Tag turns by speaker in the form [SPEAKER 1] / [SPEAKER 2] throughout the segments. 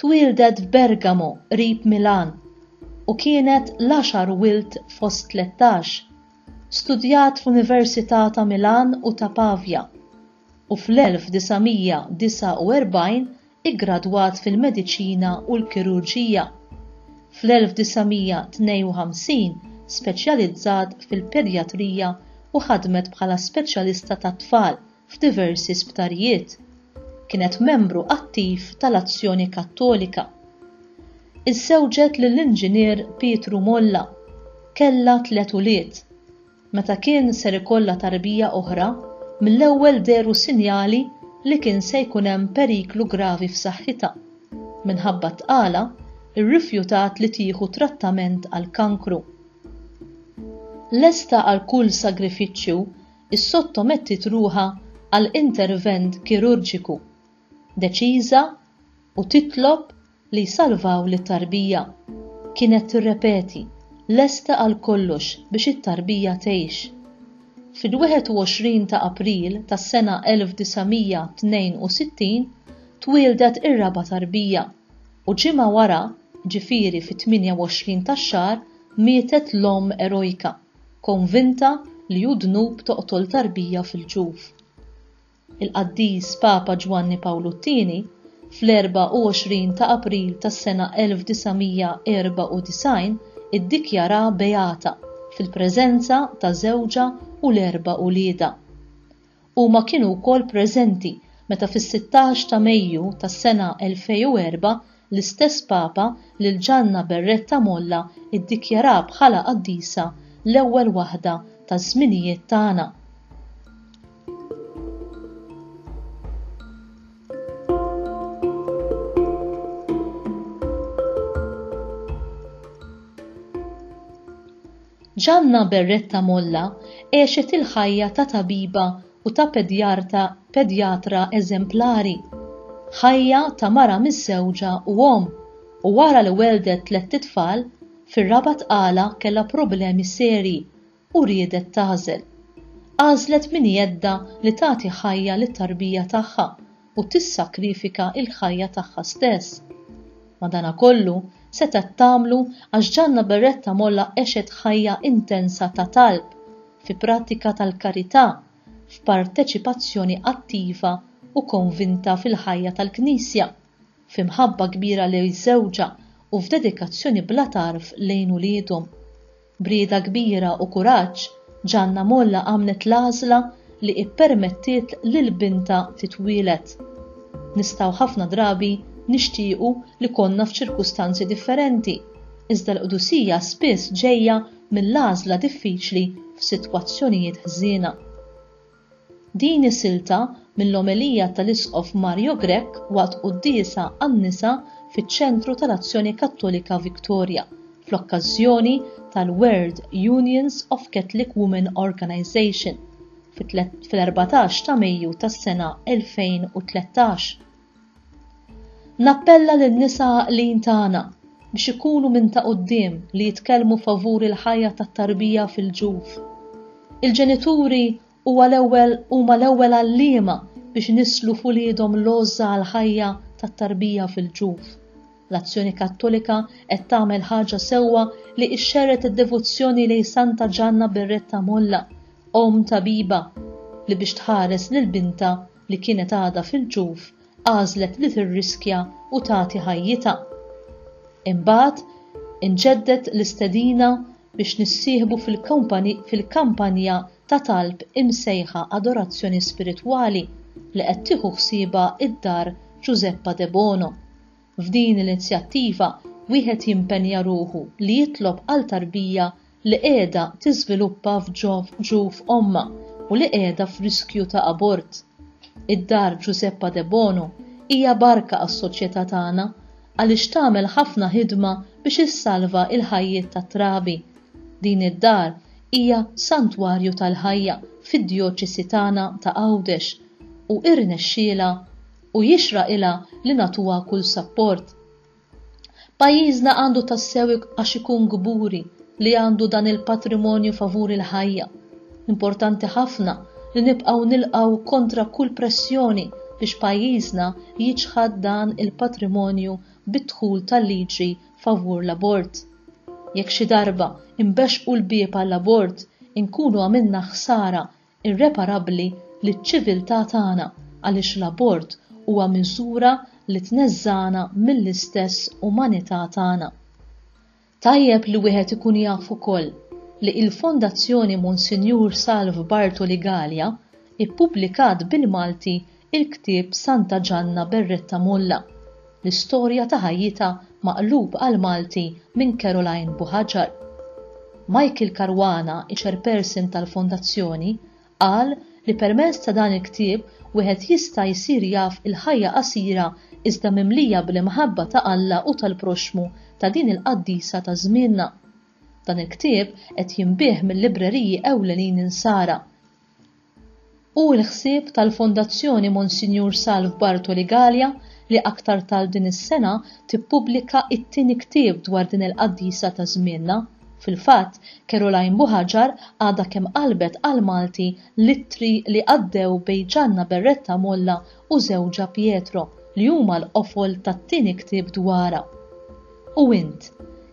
[SPEAKER 1] Twieldet f'Bergamo qrib Milan u kienet l-għaxar wild fost tlettax. Studjat f'Università ta' Milan u ta' Pavia u fl-1949 iggradwat fil-Mediċina u l-Kirurġija. Fl-1952 speċjalizzat fil-Pedjatrija u ħadmet bħala speċjalista tat-tfal f'diversi sptarijiet. Kienet membru attiv tal-Azzjoni Kattolika. Iżżewġet lill-Inġinier Pietru Molla. Kellha tliet ulied. Meta kien ser ikollha tarbija oħra, mill-ewwel dehru sinjali li kien se jkun hemm periklu gravi f'saħħitha. Minħabba t-tqala, irrifjutat li tieħu trattament għall-kankru. Lesta għal kull sagrifiċċju issottomettiet ruħha għal intervent kirurġiku, deċiża u titlob li jsalvaw lit-tarbija. Kienet tirrepeti, lesta għal kollox biex it-tarbija tgħix. Fil-21 ta' April tas-sena 1962 twieldet ir-raba' tarbija u ġimgħa wara, ġifieri fit-28 tax-xahar, mietet l-omm erojka. konvinta li hu dnub toqtol tarbija fil-ġuf. Il-Qaddis Papa Ġwanni Pawlu t-Tieni, fl-24 ta' April tas-sena 1994 iddikjaraha beata fil-preżenza ta' żewġha u l-erba' uliedha. Huma kienu wkoll preżenti meta fis-16 ta' Mejju tas-sena 2004 l-istess Papa lil Ġanna Berretta Molla ddikjara bħala qaddisa l-ewwel waħda taż-żminijiet tagħna. Gianna Berretta Molla għexet il-ħajja ta' tabiba u ta' pedjarta pedjatra eżemplari. Ħajja ta' mara miżżewġa u omm, u wara li welldet tlett itfal, fir-raba' tqala kellha problemi serji u riedet tagħżel. Għażlet minn jeddha li tagħti ħajja lit-tarbija tagħha u tissakrifika l-ħajja tagħha stess. Madanakollu, setgħet tagħmlu għax Ġanna Beretta Molla għexet ħajja intensa ta' talb, fi prattika tal-karità, f'parteċipazzjoni attiva u konvinta fil-ħajja tal-Knisja, f'imħabba kbira lejn żewġha u f'dedikazzjoni bla tarf lejn uliedhom. B'rieda kbira u kuraġġ, Ġanna Molla għamlet l-għażla li ippermettiet lil bintha titwieled. Nistgħu ħafna drabi nixtiequ li konna f'ċirkustanzi differenti, iżda l-qdusija spiss ġejja mill-għażla diffiċli f'sitwazzjonijiet ħżiena. Din hi silta mill-omelija tal-Isqof Mario Grech waqt quddiesa għan-nisa fiċ-Ċentru tal-Azzjoni Kattolika Victoria, fl-okkażjoni tal-World Unions of Catholic Women Organization, fil-erbatax ta' Mejju tas-sena 2013. Nappella lin-nisa għaqlin tagħna biex ikunu minn ta' quddiem li jitkellmu favur il-ħajja tat-tarbija fil-ġuf. Il-ġenituri huwa l-ewwel huma l-ewwel għalliema biex inisslu f'uliedhom l-għożża għall-ħajja tat-tarbija fil-ġuf. L-Azzjoni Kattolika qed tagħmel ħaġa sewwa li ixxerred id-devozzjoni lejn Santa Ġanna Berretta Molla, Omm Tabiba, li biex tħares lil bintha li kienet għadha fil-ġuf għażlet li tirriskja u tagħti ħajjitha. Imbagħad, inġedded l-istedina biex nissieħbu fil-kampanja ta' talb imsejħa Adorazzjoni Spiritwali li qed tieħu ħsiebha d-Dar Ġużeppa Debono. F'din l-inizjattiva wieħed jimpenja ruħu li jitlob għal tarbija li qiegħda tiżviluppa f'ġuf ommha u li qiegħda f'riskju ta' abort. Id-Dar Ġużeppa Debono hija barka għas-soċjetà tagħna għaliex tagħmel ħafna ħidma biex issalva l-ħajjiet tat-trabi. Din id-dar hija santwarju tal-ħajja fid-djoċesi tagħna ta' Għawdex u irnexxielha u jixraqilha li nagħtuha kull sapport. Pajjiżna għandu tassew għax ikun kburi li għandu dan il-patrimonju favur il-ħajja. Importanti ħafna li nibqgħu nilqgħu kontra kull pressjoni biex pajjiżna jiċħad dan il-patrimonju bid-dħul tal-liġi favur l-abort. Jekk xi darba imbexxqu l-bieb għall-abort, inkunu għamilna ħsara irreparabbli liċ-ċiviltà tagħna għaliex l-abort huwa miżura li tneżżagħna mill-istess umanità tagħna. Tajjeb li wieħed ikun jaf ukoll li il-Fondazzjoni Monsinjur Salv Bartoli Galea ippubblikat bil-Malti Il-ktieb Santa Ġanna Berretta Molla, L-istorja ta' ħajjitha maqlub għall-Malti minn Caroline Buhaġar. Michael Caruana, iChairperson tal-Fondazzjoni, qal li permezz ta' dan il-ktieb wieħed jista' jsir jaf il-ħajja qasira iżda mimlija bl-imħabba ta' Alla u tal-proxxmu ta' din il-qaddisa ta' żmienna. Dan il-ktieb qed jinbiegħ mil-libreriji ewlenin Insara. Hu l-ħsieb tal-Fondazzjoni Monsinjur Salv Bartoli Galea li aktar tard din is-sena tippubblika t-tieni ktieb dwar din il-qaddisa ta' żmienna. Fil-fatt, Caroline Buhaġar għadha kemm qalbet għall-Malti l-ittri li għaddew bejn Ġanna Berretta Molla u żewġha Pietro, li huma l-qofol tat-tieni ktieb dwarha. U int,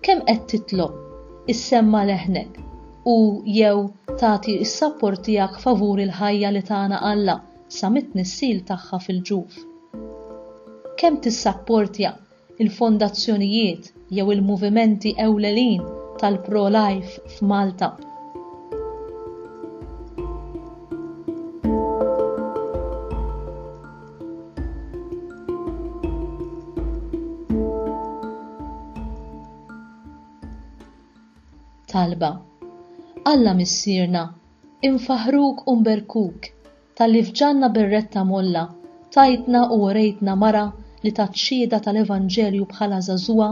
[SPEAKER 1] kemm qed titlob issemma' leħnek u jew tagħti s-sapport tiegħek favur il-ħajja li tana Alla sa mit-tnissil tagħha fil-ġuf? Kemm tissapportja l-fondazzjonijiet jew il-movimenti ewlelin tal-pro-life f'Malta? Talba Alla Missierna, infaħruk u nberkuk talli f'ġanna berretta molla tajtna u orejtna mara li tat xhieda tal-Evanġelju bħala żagħżugħa,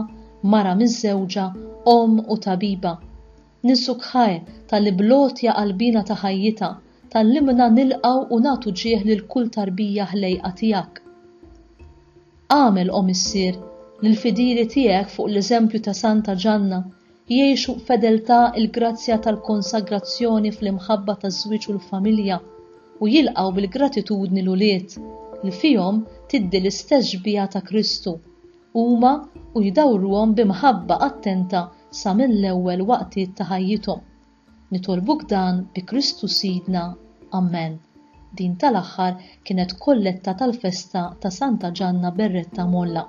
[SPEAKER 1] mara miżżewġa, omm u tabiba. Ninsukħae talli bl-għotja qalbina ta' ħajjitha tgħallimna nilqgħu u nagħtu ġieħ lil kull tarbija ħlejqa tiegħek. Agħmel, O Missier, li l-fidili tiegħek fuq l-eżempju ta' Santa Ġanna jgħixu b'fedeltà l-grazzja tal-konsagrazzjoni fl-imħabba taż-żwieġ u l-familja u jilqgħu bil-gratitudni l-ulied li fihom tiddi l-istess xbieha ta' Kristu huma u jdawruhom bi mħabba attenta sa mill-ewwel waqtiet ta' ħajjithom. Nitolbuk dan bi Kristu Sidna. Amen. Din tal-aħħar kienet kolletta tal-festa ta' Santa Ġanna Berretta Molla.